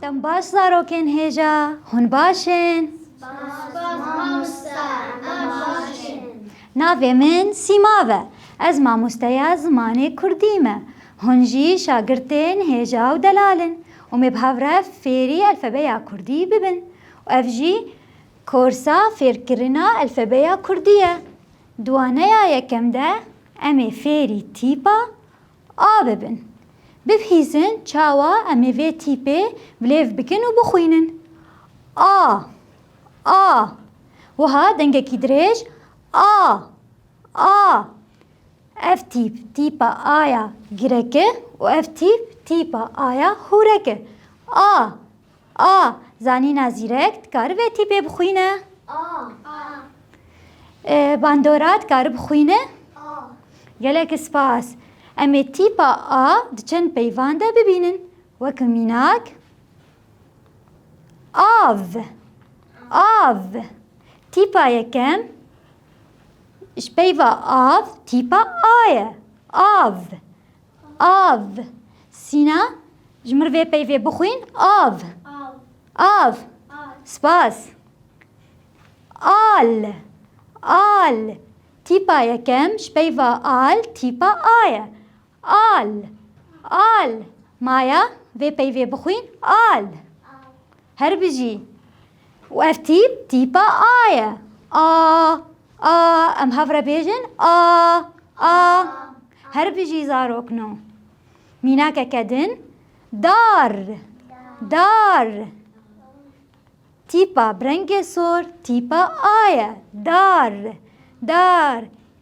Dem baş zarokên hêja hûn baş in. Navê min Sîma be. Ez mamosteya zimanê Kurdî me. Hûn jî şagirtên hêja û delal in û me bi hev re fêrî elfebeya Kurdî bibin û ev jî Korsa fêrkirina elfebeya kurdî ye. Di waneya yekem de em ê fêrî tîpa A bibin. Bibihîzin çawa em ê vê tîpê bilêv bikin û bixwînin. A, a. Wiha dengekî dirêj A, a. Ev tîp tîpa A ya girek e û ev tîp tîpa A ya hûrek e. A. A, Zanîna zîrek dikaribe tîpê bixwîne? A, Bandora dikari bixwîne? A, Gelek spas. Em ê tîpa A di çend peyvan de bibînin. Wek mînak av, av. Tîpa yekem ji peyva av tîpa A ye. Av. Av. Sîna, ji mir vê peyvê bixwîn, av. Av. Spas. Al. Al. Tîpa yekem ji peyva al tîpa a ye. Al. Al. Maya, vê peyvê bixwîn, al. Her bijî. Û ev tîp tîpa A ye. A, a, em hev re bêjin a, a. Her bijî zarok no. Mînakeke din dar, dar. Tîpa bi rengê sor tîpa A ye. Dar, dar.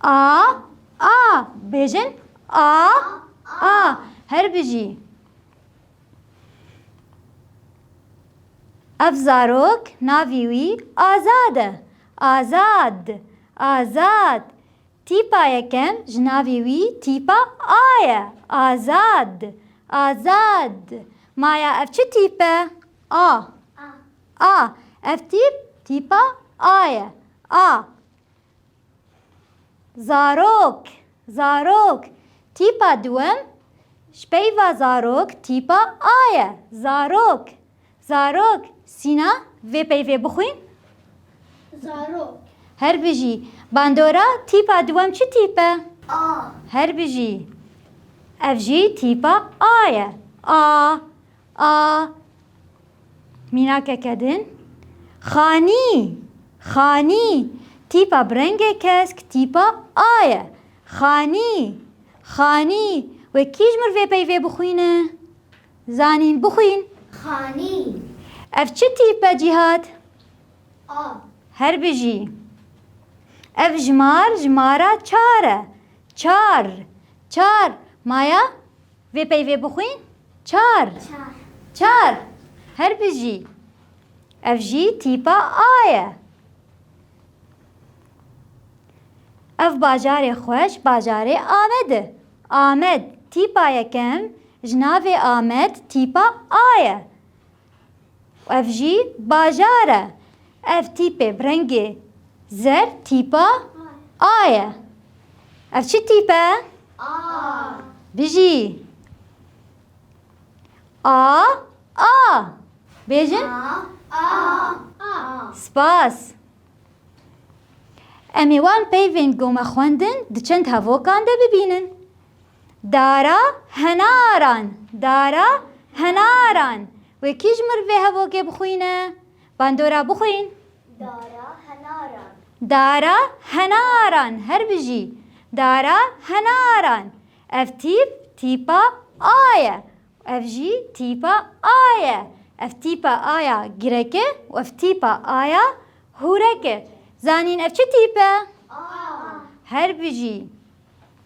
A A Bêjin A A Her bijî Ev zarok navî wî Azad e. Azad Azad Tîpa yekem ji navî wî tîpa A ye. Azad Azad Maya ev çi tîp e? A A Ev tîp tîpa A ye. A Zarok, zarok. Tîpa duwem, ji peyva zarok tîpa a ye. Zarok, zarok. Sîna, vê peyvê bixwîn. Zarok. Her bijî. Bandora, tîpa duwem çi tîp e? A. Her bijî. Ev jî tîpa a ye. A. A mînakeke din, xanî, xanî, tîpa bi rengê kesk, tîpa A ye. Xanî, xanî, wê kî ji mir vê peyvê bixwîne? Zanîn, bixwîn. Xanî. Ev çi tîp e Cîhat? A. Her bijî. Ev jimar, jimara çar e. Çar, çar, maya Vê peyvê bixwîn çar. Çar. Her bijî. Ev jî tîpa A ye. Ev bajarê xweş bajarê Amed e. Amed tîpa yekem ji navê Amed tîpa A ye. Ev jî bajar e. Ev tîpê bi rengê zer tîpa A ye. Ev çi tîp e? A. Bijî. A, A. Bêjin. A, A. Spas. Em ê wan peyvên gomexwendin di çend hevokan de bibînin. Dara henaran Dara henaran Wê kî ji mir vê hevokê bixwîne? Bandora bixwîn. Dara henaran Dara henaran Her bijî Dara henaran Ev tîp tîpa A ye û ev jî tîpa A ye. Ev tîpa A ya girek e û ev tîpa A ya hûrek e. Zanîn ev çi tîp e? A Her bijî.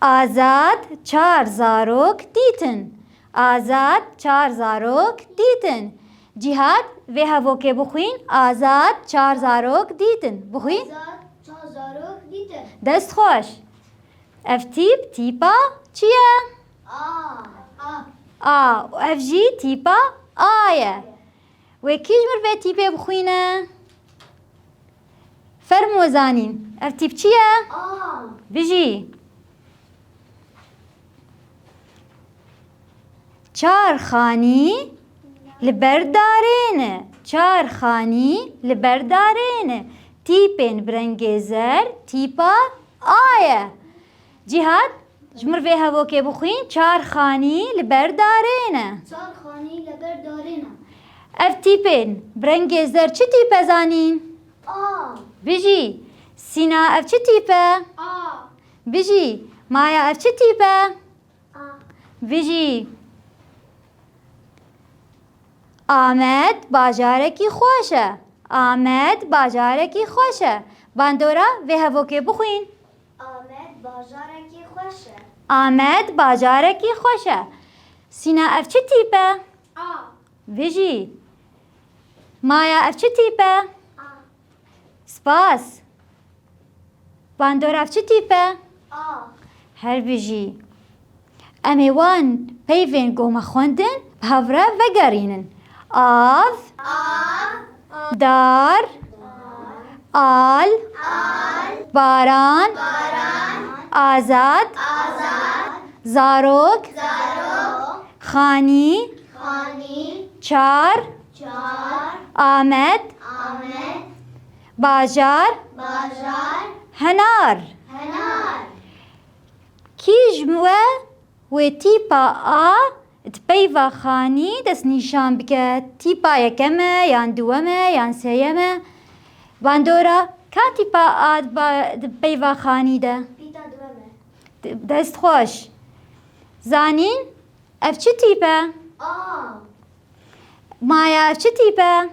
Azad çar zarok dîtin. Azad çar zarok dîtin. Cîhad vê hevokê bixwîn Azad çar zarok dîtin. Bixwîn. Azad çar zarok dîtin. Dest xweş. Ev tîp tîpa çi ye? A. A. A. Ev jî tîpa A ye. Wê kîj mir vê tîpê bixwîne? Fermo zanîn. Ev tîp çi ye? Bijî. Çar xanî li ber darêne. Çar xanî li ber darêne. Tîpên bi rengê zer tîpa A ye. Cîhad, ji mir vê hevokê bixwîn çar xanî li ber darê ne. Çar xanî li ber darê ne. Ev tîpên bi rengê zer çi tîp e zanîn? A. Bijî, Sîna ev çi tîp e? A. Bijî, Maya ev çi tîp e? A. Bijî, Amed bajarekî xweş e. Amed bajarekî xweş e. Bandora vê hevokê bixwîn. Amed bajarekî xweş e. Amed bajarekî xweş e. Sîna ev çi tîp e? A. Vijî. Maya ev çi tîp e? A. Spas. Bandor ev çi tîp e? A. Her vijî. Em ê wan peyvên ku me xwendin bi hev re vegerînin, av, dar, al, baran, azad, zarok, xanî, çar, amed, bajar, henar. Kî ji we wê tîpa a di peyva xanî destnîşan bike, tîpa yekem e yan duwem e yan sêyem e? Bandora, Ka tîpa a di peyva xanî de? Pîta duwem e. Dest xweş. Zanîn, Ev çi tîp e? A. Maya, Ev çi tîp e? A.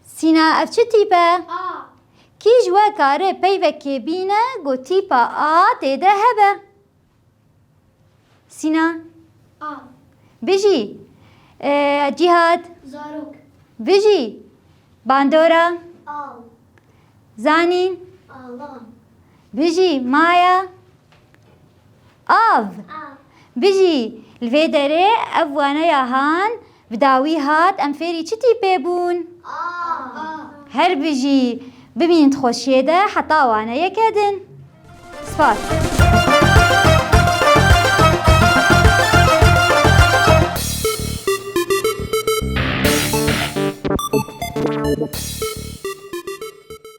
Sîna ev çi tîp e? A. Kî ji we kare peyvekê bîne ku tîpa A tê de hebe? Sîna. A. Bijî. E, Cîhat. Zarok. Bijî. Bandora. Al. Zanîn. Alan. Bijî. Maya. Av! Bijî! Li vê derê ev waneya han bi dawî hat em fêrî çi tîpê bûn? Av! Her bijî! Bimîn di xweşiyê de heta waneyeke din. Spas.